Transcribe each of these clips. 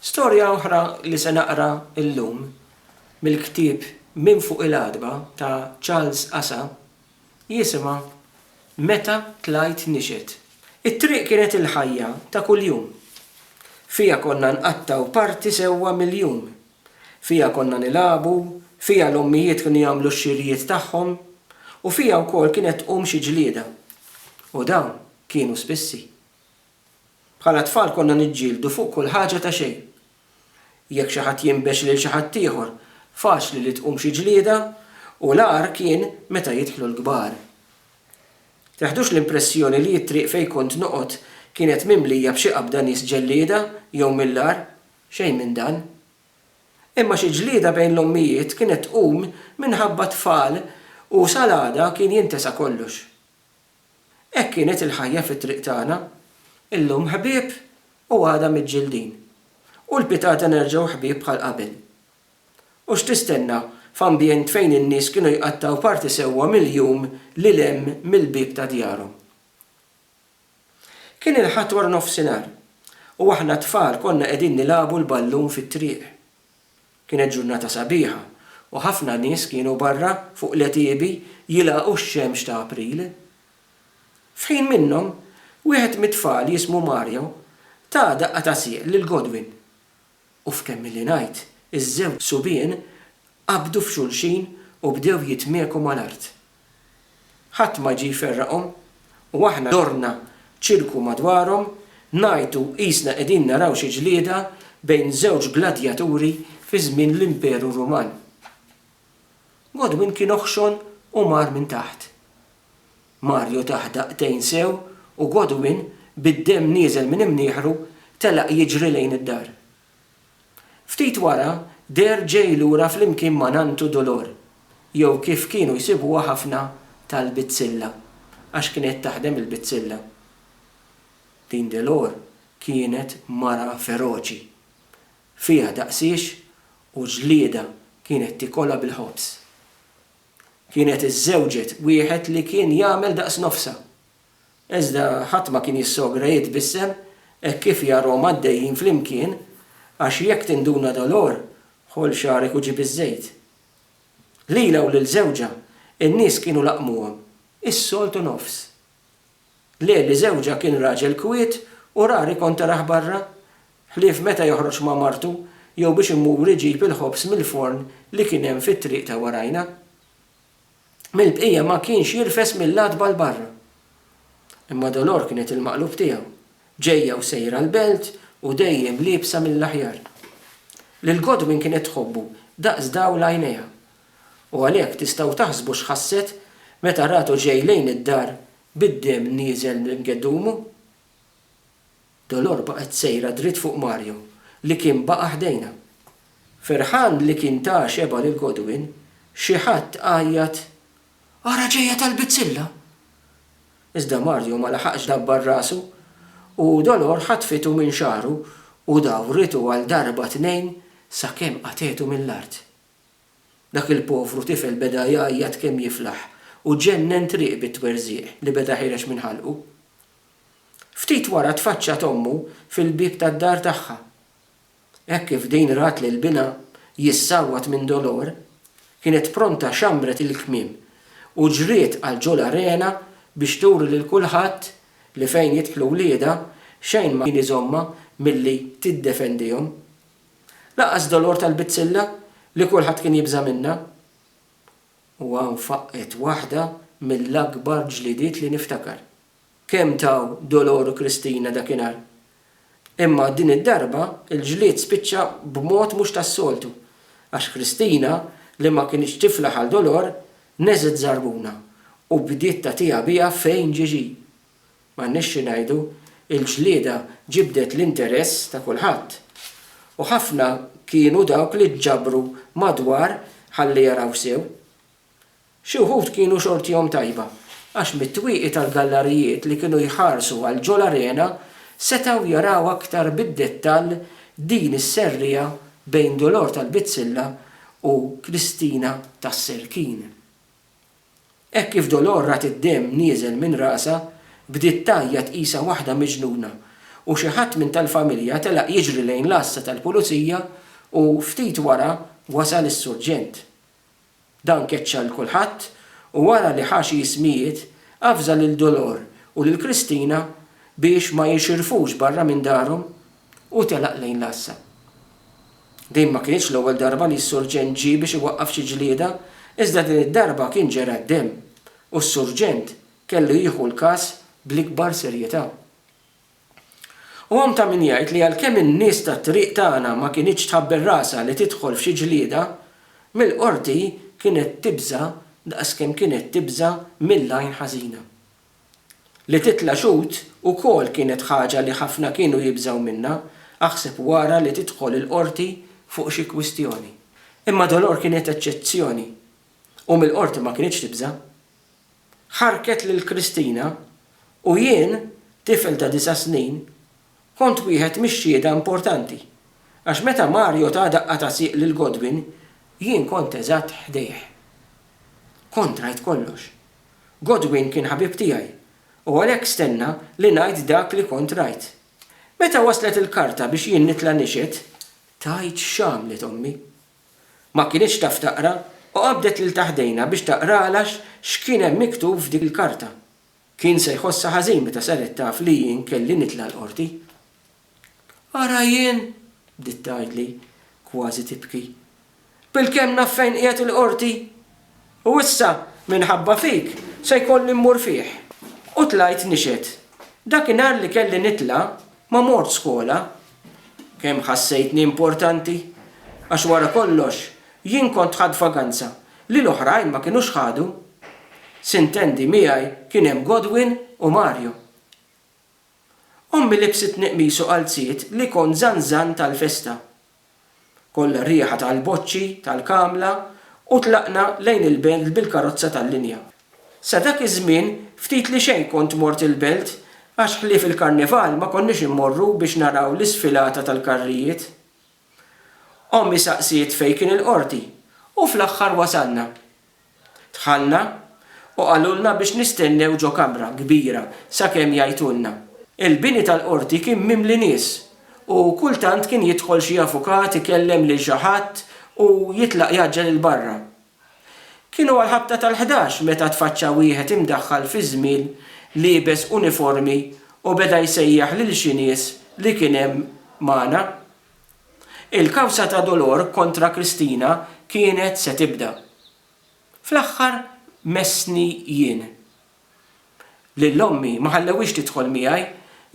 Storja oħra li se naqra llum mill-ktieb Minn Fuq il-Għatba ta' Charles Asa jisimha Meta Tlajt Nixhed. It-triq kienet il-ħajja ta' kuljum. Fiha konna nqattgħu parti sewwa mill-jum. Fiha konna nilagħbu, fiha l-ommijiet kienu jagħmlu x-xirjiet tagħhom, u fiha wkoll kienet tqum xi ġlieda. U dawn kienu spissi. Bħala tfal konna niġġieldu fuq kull ħaġa ta' xejn. Jekk xi ħadd jinbex lil xi ħaddieħor, faċli li tqum xi ġlieda u l-agħar kien meta jidħlu l-kbar. Teħdux l-impressjoni li t-triq fejn kont noqgħod kienet mimlija b'xi qabda nies ġellieda jew mill-agħar, xejn minn dan. Imma xi ġlieda bejn l-ommijiet kienet tqum minħabba t-tfal u sal-għada kien jintesa kollox. Hekk kienet il-ħajja fit-triq tagħna, illum ħbieb u għada miġġildin, u l-pitgħata nerġgħu ħbieb bħal qabel. U x'tistenna f'ambjent fejn in-nies kienu jqattgħu parti sewwa mill-jum lil hemm mill-bieb ta' djarhom? Kien il-Ħadd waranofsinhar, u aħna t-tfal konna qegħdin nilagħbu l-ballun fit-triq. Kienet ġurnata sabiħa u ħafna nies kienu barra fuq l-għetiebi jilagħqu x-xemx ta' April. F'ħin minnhom, wieħed mit-tfal jismu Mario ta daqqa ta' sieq lil Godwin u f'kemmilli ngħid iż-żewġ subien qabdu f'xulxin u bdew jitmieku mal-art. Ħadd ma ġie jferraqhom, u aħna dorna ċirku madwarhom, ngħajtu qisna qegħdin naraw xi ġlieda bejn żewġ gladjaturi fi żmien l-Imperu Ruman. Godwin kien oħxon u mar minn taħt. Mario tah daqtejn sew u Godwin, bid-demm nieżel minn imnieħru, telaq jiġri lejn id-dar. Ftit wara, deher ġej lura flimkien ma' nanntu Dolor, jew kif kienu jsibuha ħafna tal-bizzilla, għax kienet taħdem il-bizzilla. Din Delor kienet mara feroċi. Fiha daqsiex u ġliedha kienet tikolha bil-ħobż. Kienet iżżewġet wieħed li kien jagħmel daqs nofsha, Iżda ħadd ma kien jissogra jitbissem hekk kif jarahom għaddejjin flimkien, għax jekk tinduna Dolor, ħoll xagħrek u ġib iż-żejt. Lilha u lil żewġha, in-nies kienu laqmuhom, is-soltu nofs. Le li żewġha kien raġel kwiet u rari kont tarah barra, ħlief meta joħroġ ma' martu jew biex imur iġib il-ħobż mill-forn li kien hemm fit-triq ta' warajna. mill-bqija ma kienx jirfes mill-għatba 'l barra. Imma Dolor kienet il-maqlub tiegħu, ġejja u sejra l-belt u dejjem liebsa mill-aħjar. Lil Godwin kienet tħobbu daqs dawl għajnejha. U għalhekk tistgħu taħsbu x'ħasset meta ratu ġej lejn id-dar bid-demm nieżel minn geddumu? Dolor baqgħet sejra dritt fuq Mario li kien baqa' ħdejna. Ferħan li kien ta xebgħa lil Godwin, xi ħadd għajjat, Ara ġejja tal-bizzilla! Iżda Mario ma laħaqx dabbar rasu u Dolor ħatfitu minn xagħru u dawritu għal darba tnejn sakemm qatgħetu mill-art. Dak il-povru tifel beda jgħajjat kemm jiflaħ u ġennen triq bit-twerżiq li beda jħireġ minn ħalqu. Ftit wara tfaċċat ommu fil-bieb tad-dar tagħha. Hekk kif din rat lil binha jissawwat minn dolor, kienet pronta xammret il-kmiem u ġriet għal ġol arena biex turi lil kulħadd li fejn jidħlu wliedha xejn ma kien iżommha milli tiddefendihom. Lanqas dolor tal-bizzilla li kulħadd kien jibża' minnha. U hawn faqqgħet waħda mill-akbar ġlidiet li niftakar. kemm taw Dolor u Kristina dakinhar. Imma din id-darba l-ġlied spiċċa b'mod mhux tas-soltu għax Kristina li ma kinitx tiflaħ għal Dolor neżgħet żarbuna u bdiet tagħtiha biha fejn ġie ġie. M'għandniex xi ngħidu, il-ġlieda ġibdet l-interess ta' kulħadd. U ħafna kienu dawk li ġġabru madwar ħalli jaraw sew. Xi wħud kienu xortihom tajba, għax mit-twieqi tal-gallarijiet li kienu jħarsu għal ġol-arena setgħu jaraw aktar bid-dettall din is-serriegħa bejn Dolor tal-Bizzilla u Kristina tas-Serkin. Hekk kif Dolor rat id-demm nieżel minn rasha, bdiet tgħajjat qisha waħda miġnuna u xi ħadd minn tal-familja telaq jiġri lejn l-għassa tal-Pulizija u, ftit wara, wasal is-Surġent. Dan keċċa 'l kulħadd u wara li ħa xi ismijiet, avża lil Dolor u lil Kristina biex ma jixirfux barra minn darhom u telaq lejn l-għassa. Din ma kinitx l-ewwel darba li s-Surġent ġie biex iwaqqaf xi ġlieda iżda din id-darba kien ġera d-demm u s-Surġent kellu jieħu l-każ bl-ikbar serjetà. U hawn ta' min jgħid li għalkemm in-nies tat-triq tagħna ma kinitx tħabbel rasha li tidħol f'xi ġlieda, mill-Qorti kienet tibża' daqs kemm kienet tibża' mill-għajn ħażina. Li titla' xhud ukoll kienet ħaġa li ħafna kienu jibżgħu minnha, aħseb wara li tidħol il-Qorti fuq xi kwistjoni. Imma Dolor kienet eċċezzjoni u mill-Qorti ma kinitx tibża'. ħarrket lil Christina u jien, tifel ta' disa' snin, kont wieħed mix-xhieda importanti, għax meta Mario ta daqqa ta' sieq lil Godwin, jien kont eżatt ħdejh. Kont rajt kollox. Godwin kien ħabib tiegħi u għalhekk stenna li ngħid dak li kont rajt. Meta waslet il-karta biex jien nitla' nixhed, tgħid x'għamlet ommi. Ma kinitx taf taqra u qabdet lil ta' ħdejna biex taqralha x'kien hemm miktub f'dik il-karta. Kien se jħossha ħażin meta saret taf li jien kelli nitla' l-Qorti. Ara jien! bdiet tgħidli, kważi tibki. Bilkemm naf fejn qiegħed il-Qorti! U issa, minħabba fik, se jkolli mmur fih. U tlajt nixhed. Dakinhar li kelli nitla', ma mort skola. Kemm ħassejtni importanti! Għax wara kollox, jien kont ħadt vaganza li l-oħrajn ma kinux ħadu. Sintendi, miegħi kien hemm Godwin u Mario. Ommi libsitni qmis u qalziet li kont żanżan tal-festa. Kollha r-riħa tal-boċċi tal-kamla u tlaqna lejn il-belt bil-karozza tal-linja. Sa dak iż-żmien ftit li xejn kont mort il-belt għax ħlief il-Karnival ma konniex immorru biex naraw l-isfilata tal-karrijiet. Ommi saqsiet fejn kien il-qorti u fl-aħħar wasalna. Dħalna u qalulna biex nistennew ġo kamra kbira sakemm jgħajtulna. Il-bini tal-Qorti kien mimli nies u kultant kien jidħol xi avukat ikellem lil xi ħadd u jitlaq jgħaġġel 'il barra. Kienu għall-ħabta tal-ħdax meta tfaċċa wieħed imdaħħal fi żmien liebes uniformi u beda jsejjaħ lil xi nies li kien hemm magħna. Il-kawża ta' Dolor kontra Kristina kienet se tibda. Fl-aħħar messni jien. Lil ommi ma ħallewhiex tidħol miegħi,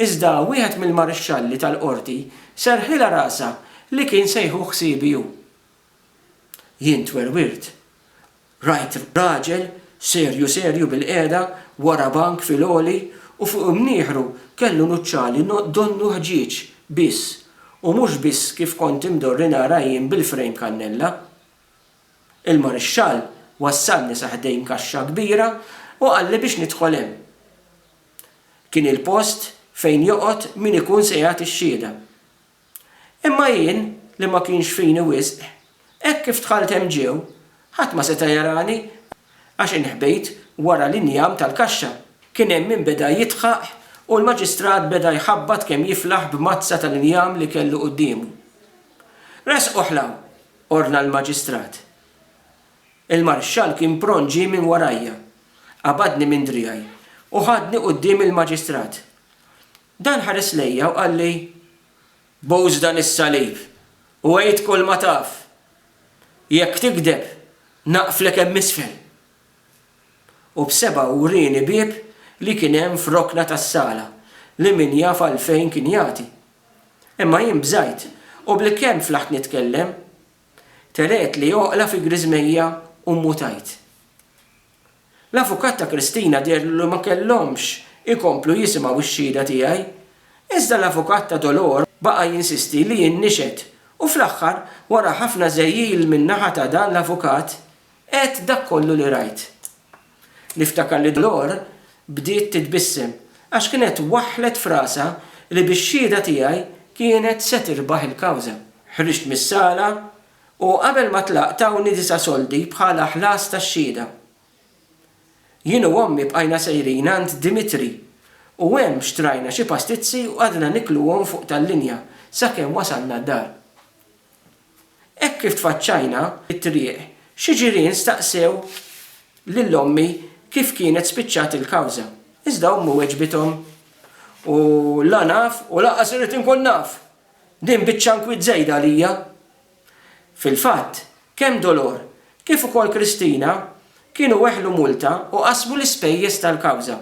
iżda wieħed mill-marixxalli tal-qorti serrħilha rasha li kien se jieħu ħsiebi hu. Jien twerwirt Rajt raġel serju serju bilqiegħda wara bank fil-għoli u fuq imnieħru kellu nuċċali donnu ħġieġ biss u mhux biss kif kont imdorri nara jien bil-frejm kannella. Il-marixxall wassalni sa ħdejn kaxxa kbira u qalli biex nidħol hemm. Kien il-post fejn joqgħod min ikun se jagħti x-xhieda. Imma jien, li ma kienx fini wisq, hekk kif dħalt hemm ġiew, ħadd ma seta' jarani, għax inħbejt wara l-injam tal-kaxxa. Kien hemm min beda jidħaq u l-Maġistrat beda jħabbat kemm jiflaħ b'mazza tal-injam li kellu quddiemu. Ressquh 'l hawn! ordna l-Maġistrat. Il-Marxxall kien pront ġie minn warajja, qabadni minn driegħi u ħadni quddiem il-Maġistrat. Dan ħares lejja u qalli, Bouż dan is-salib u għid kulma taf. Jekk tigdeb, naqflek hemm isfel. U b'sebgħu wrieni bieb li kien hemm f'rokna tas-sala li min jaf għalfejn kien jagħti. Imma jien bżajt u bil-kemm flaħt nitkellem, teretli oqla fi griżmejja u mmutajt. L-avukat ta' Christina deherlu li ma kellhomx ikomplu jisimgħu x-xhieda tiegħi. Iżda l-avukat ta' Dolor baqa' jinsisti li jien nixhed u fl-aħħar, wara ħafna żegħjil min-naħa ta' dan l-avukat, għedt dak kollu li rajt. Niftakar li Dolor bdiet titbissem għax kienet waħħlet f'rasha li bix-xhieda tiegħi kienet se tirbaħ il-kawża. Ħriġt mis-sala U qabel ma tlaqt tawni disa' soldi bħala ħlas tax-xhieda. Jien u ommi bqajna sejrin għand Dimitri u hemm xtrajna xi pastizzi u qgħadna nikluhom fuq tal-linja sakemm wasalna d-dar. Hekk kif tfaċċajna t-triq xi ġirien staqsew lil ommi kif kienet spiċċat il-kawża. Iżda ommi weġbithom, U la naf u lanqas irrid inkun naf! Din biċċa nkwiet żejda għalija. Fil-fatt, kemm Dolor kif ukoll Kristina kienu weħlu multa u qasmu l-ispejjeż tal-kawża.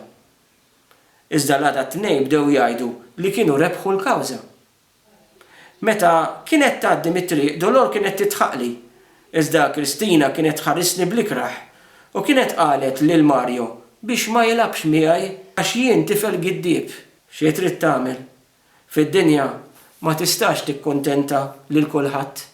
Iżda l-għada t-Tnejn bdew jgħidu li kienu rebħu l-kawża. Meta kienet tgħaddi mit-triq Dolor kienet tidħaqli, iżda Kristina kienet tħarisni bl-ikrah u kienet qalet lil Mario biex ma jilgħabx miegħi għax jien tifel giddieb. Xi trid tagħmel? fid-dinja ma tistax tikkuntenta lil kulħadd.